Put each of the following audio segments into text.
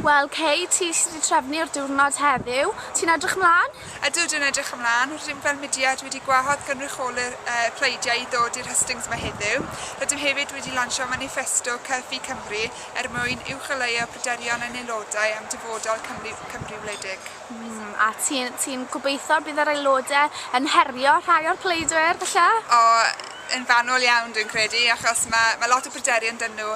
Wel Kay, ti sy 'di trefnu'r diwrnod heddiw, ti'n edrych ymlan? Ydw, dwi'n edrych ymlan. Rydym fel mudiad wedi gwahodd gynrycholi'r pleidiau i ddod i'r hustings yma heddiw. Rydym hefyd wedi lansio maniffesto CUFI Cymru er mwyn uwcholeuo pryderon ein aelodau am dyfodol Cymru wledig. A ti'n ti gobeithio bydd yr aelodau yn herio rhai o'r pleidwyr, falle? O, yn fanwl iawn dwi'n credu, achos mae, mae lot o bryderon 'da nhw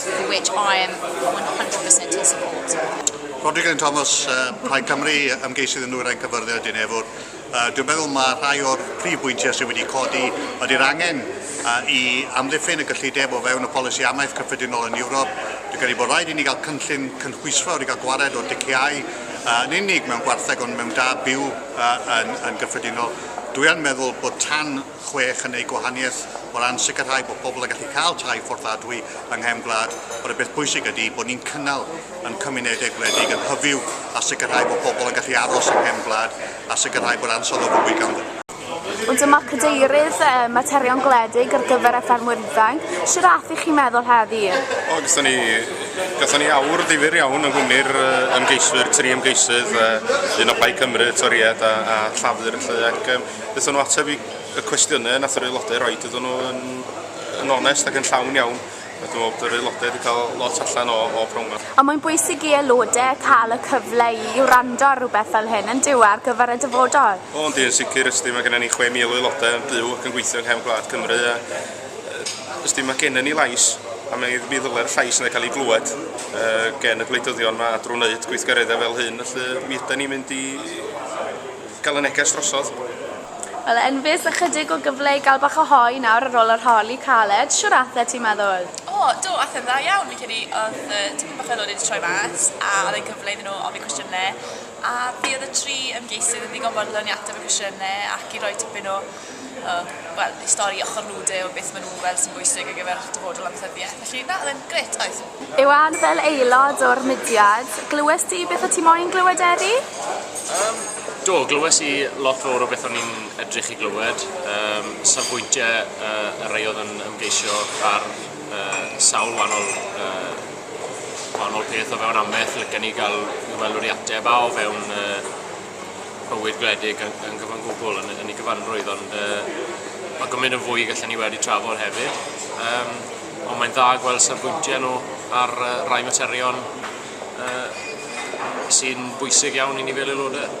for which I am 100% in support. Rhodri Glyn Thomas, uh, Plaid Cymru, ymgeisydd yn nwyrain cyfyrddau Dyn Efwr. Uh, dwi'n meddwl mae rhai o'r prif bwyntiau sydd wedi codi ydy'r angen uh, i amddiffyn y gyllideb o fewn y polisi amaeth cyffredinol yn Ewrop. Dwi'n credu bod rhaid i ni gael cynllun cynhwysfawr i gael gwared o diciau uh, yn unig mewn gwartheg ond mewn da byw uh, yn, yn gyffredinol. Dwi'n meddwl bod tan chwech yn eu gwahaniaeth o ran sicrhau bod pobl yn gallu cael tai fforddiadwy yng nghefn gwlad, ond y peth pwysig ydy bod ni'n cynnal yn cymunedau gwledig yn hyfyw a sicrhau bod pobl yn gallu aros yng nghefn gwlad a sicrhau bod ansawdd o fywyd ganddyn nhw. Ond dyma Cadeirydd Materion Gwledig ar gyfer y Ffermwyr Ifanc, shwt ath i chi meddwl heddi? O, gyson ni, gyson ni awr ddifyr iawn yng nghwmni'r ymgeiswyr, tri ymgeisydd, un o Plaid Cymru, Toried a, a Llafur, felly, ac, Wnaethon nhw ateb i y cwestiynau nath yr aelodau roed, oedden nhw yn, yn onest ac yn llawn iawn. Dwi'n meddwl bod yr aelodau wedi cael lot allan o, o prown fel. Ond mae'n bwysig i aelodau cael y cyfle i i wrando ar rhywbeth fel hyn, yn dyw e, ar gyfer y dyfodol? O, yndi, yn sicr, ysdi, mae gennym ni 6,000 o aelodau yn byw ac yn gweithio yng nghefn gwlad Cymru a ysdi, mae gennym ni lais a mi, mi ddylai'r llais yna cael ei glywed uh, gen y gwleidyddion mae drwy wneud gweithgareddau fel hyn, felly mi ydy ni'n mynd i Cael y neges drosodd. Wel Enfys, ychydig o gyfle i gael bach o hoe nawr ar ôl yr holi caled, siwr athe ti'n meddwl? O, do, athe'n dda iawn, fi'n credu oedd yy tipyn bach o aelodau 'di troi mas a oedd e'n gyfle iddyn nhw ofyn cwestiynau a fi oedd y tri ymgeisydd yn ddigon fodlon i ateb y cwestiynau ac i roi tipyn o o, wel, eu stori ochr nude o beth maen nhw'n gweld sy'n bwysig ar gyfer dyfodol amaethyddiaeth. Felly, na, oedd e'n grêt, oedd. Iwan, fel aelod o'r mudiad, glywes di beth o ti moyn glywed Eri? Yym, do, glywes i lot fawr o beth o'n i'n edrych i glywed, um, safbwyntiau uh, y rei oedd yn ymgeisio ar uh, sawl wahanol uh, wahanol peth o fewn ameth, lycan ni gael i weld o'r ateb a o fewn uh, bywyd gwledig yn, yn gyfan gwbl yn, yn ei gyfanrwydd, ond uh, mae gymaint yn fwy gallen ni wedi trafod hefyd. Um, ond mae'n dda gweld safbwyntiau nhw ar uh, rai materion uh, sy'n bwysig iawn i ni fel aelodau.